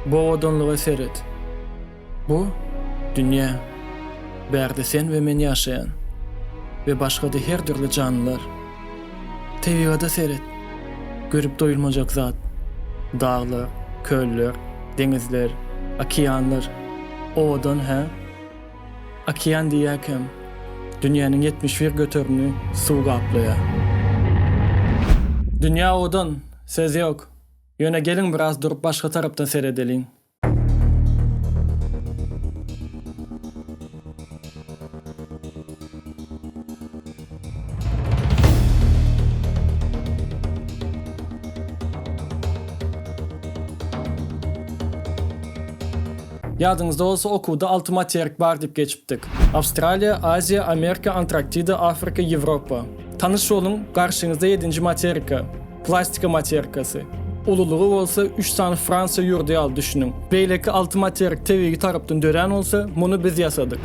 Bu owadanlyga seret. Bu dünýä. Bärde sen we men ýaşaýan. We başga-da her dürli janlylar. Tebigada seret. Görüp doýulmajak zat. Daglar, köller, deňizler, okeanlar. Owadan, hä? Okean diýýäkäm, dünýäniň ýetmiş bir göterimini suw gaplaýar. Dünýä odan, söz ýok. Ýöne geliň biraz durup başga tarapdan seredeliň. Ýadyňyzda bolsa okuwda alty materik bar diýip geçipdik. Awstraliýa, Aziýa, Amerika, Antraktida, Afrika, Ýewropa. Tanyş boluň, garşyňyzda ýedinji materika, plastika materikasy. Ululygy bolsa üç sany Fransiýa ýurdy ýaly düşüniň. Beýleki alty materik tebigy tarapdan dörän bolsa, muny biz ýasadyk.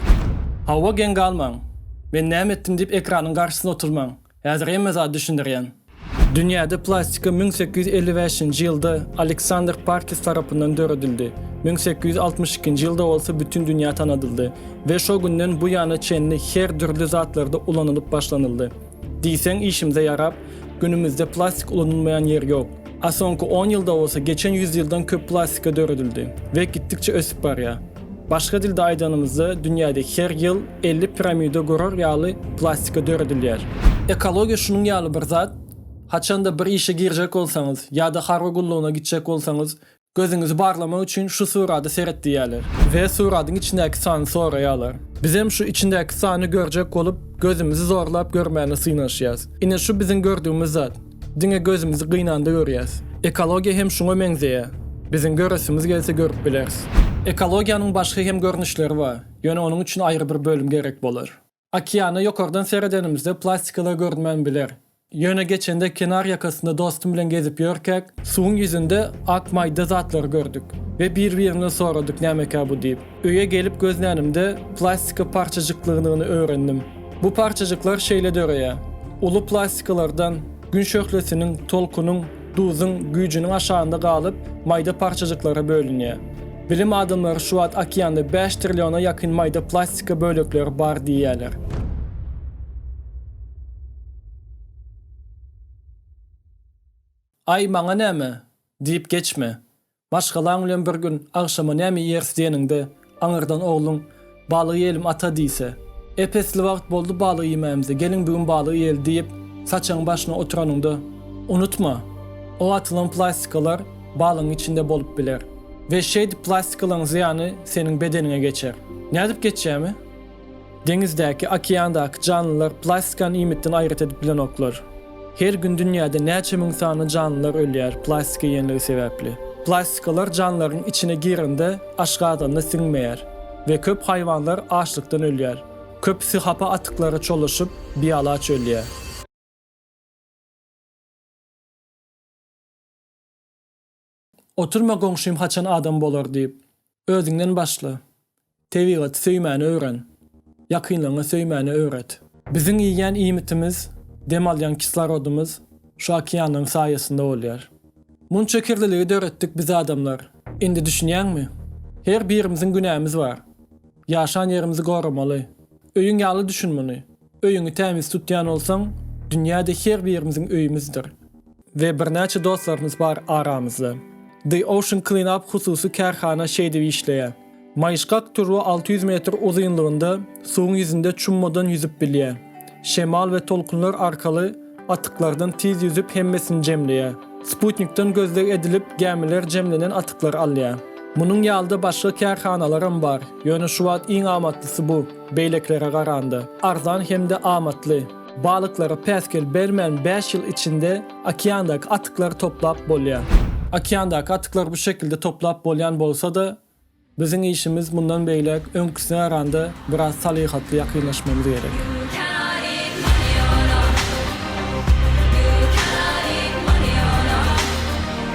Hawa geň galmaň. Men näme etdim diýip ekranyň garşysynda oturmaň. Häzir hemme zady düşündirýän. Dünýäde plastika müň sekiz ýüz elli bäşinji ýylda Aleksandr Parkis tarapyndan döredildi, müň sekiz ýüz altmyş ikinji ýylda bolsa bütin dünýä tanadyldy we şo günden bu ýana çenli her dürli zatlarda ulanylyp başlanyldy. Diýseň işimize ýarap, günümizde plastik ulanylmaýan ýer ýok. A soňky on ýylda bolsa geçen ýüz ýyldan köp plastika döredildi we gitdikçe ösüp barýar. Başga dilde aýdanymyzda dünýäde her ýyl elli piramida gurar ýaly plastika döredilýär. Ekologiýa şunuň ýaly bir zat, haçanda bir işe girjek bolsaňyz ýa-da harby gullugyna gitjek bolsaňyz Gözüňizi barlamak üçin şu surada seret diýýärler. We suradyň içindäki sany soraýarlar. Bizem şu içindäki sany görjek bolup, gözümizi zorlap görmäne synanyşýas. Ine şu biziň gördügimiz zat. Diňe gözümizi gynanda görýäs. Ekologiýa hem şuňa meňzeýär. Biziň göresimiz gelse görüp bileris. Ekologiýanyň başga hem görnüşleri bar. Ýöne onuň üçin aýry bir bölüm gerek bolar. Okeana ýokardan seredenimizde plastikalar görünmän biler. Ýöne geçende kenar ýakasynda dostum bilen gezip ýörkäk, suwuň ýüzünde ak maýda zatlary gördük we bir-birimden soradyk nämekä bu diýip. Öýe gelip gözlänimde plastika parçajyklygynyny öwrendim. Bu parçajyklar şeýle döreýär. Uly plastikalardan. Gün şöhlesiniň, tolkunyň, duzuň güýjüniň aşagynda galyp, maýda parçajyklara bölünýär. Bilim adamlary şu wagt okeanda bäş trilliona ýakyn maýda plastika bölekleri bar diýýärler. Aý, maňa näme? diýip geçme. Maşgalaň bilen bir gün agşama näme iýeris diýeniňde, aňyrdan ogluň, Balyk iýelim, ata diýse, Ep esli wagt boldy balyk iýmämize, geliň bu gün balyk iýeli diýip, saçagyň başyna oturanyňda, unutma, o atylan plastikalar balygyň içinde bolup biler we şeýdip plastikalaryň zyýany seniň bedeniňe geçer. Nädip geçýärmi? Deňizdäki, okeandaky janlylar plastikany iýmitden aýrat edip bilenoklar. Her gün dünýäde näçe müň sany janlylar ölýär plastika iýenligi sebäpli. Plastikalar janlaryň içine girende aşgazanda siňmeýär we köp haýwanlar açlykdan ölýär. Köpüsi hapa atyklara çolaşyp, bialaç ölýär. Oturma goňşym haçan adam bolar diýip. Özüňden başla. Tebigaty söýmäni öwren. Ýakynlaryňy söýmäni öwret. Biziň iýýän iýmitimiz, dem alýan kislorodymyz şu okeanlaryň saýasynda bolýar. Munça kirliligi döretdik biz adamlar. Indi düşünýäňmi? Her birimiziň günämiz bar. Ýaşan ýerimizi goramaly. Öýüň ýaly düşün muny. Öýüňi tämiz tutýan bolsaň, dünýäde her birimiziň öýümizdir. We birnäçe dostlarymyz bar aramyzda. The Ocean Clean Up hususy kärhana şeýdip işleýär. Maýyşgak turba alty ýüz metr uzynlygynda suwuň ýüzünde çummadan ýüzüp bilýär. Şemal we tolkunlar arkaly atyklardan tiz ýüzüp hemmesini jemleýär. Sputnikden gözleg edilip gämiler jemlenen atyklary alýar. Munuň ýalyda başga kärhanalaram bar, ýöne şu wagt iň amatlysy bu. Beýlekilere garanda, arzan hem-de amatly. Balyklara päsgel bermän bäş ýyl içinde okeandaky atyklary toplap bolýar. Okeandaky atyklary bu şekilde toplap bolýan bolsa-da, biziň işimiz mundan beýläk öňküsine garanda biraz salyhatly ýakynlaşmamyz gerek.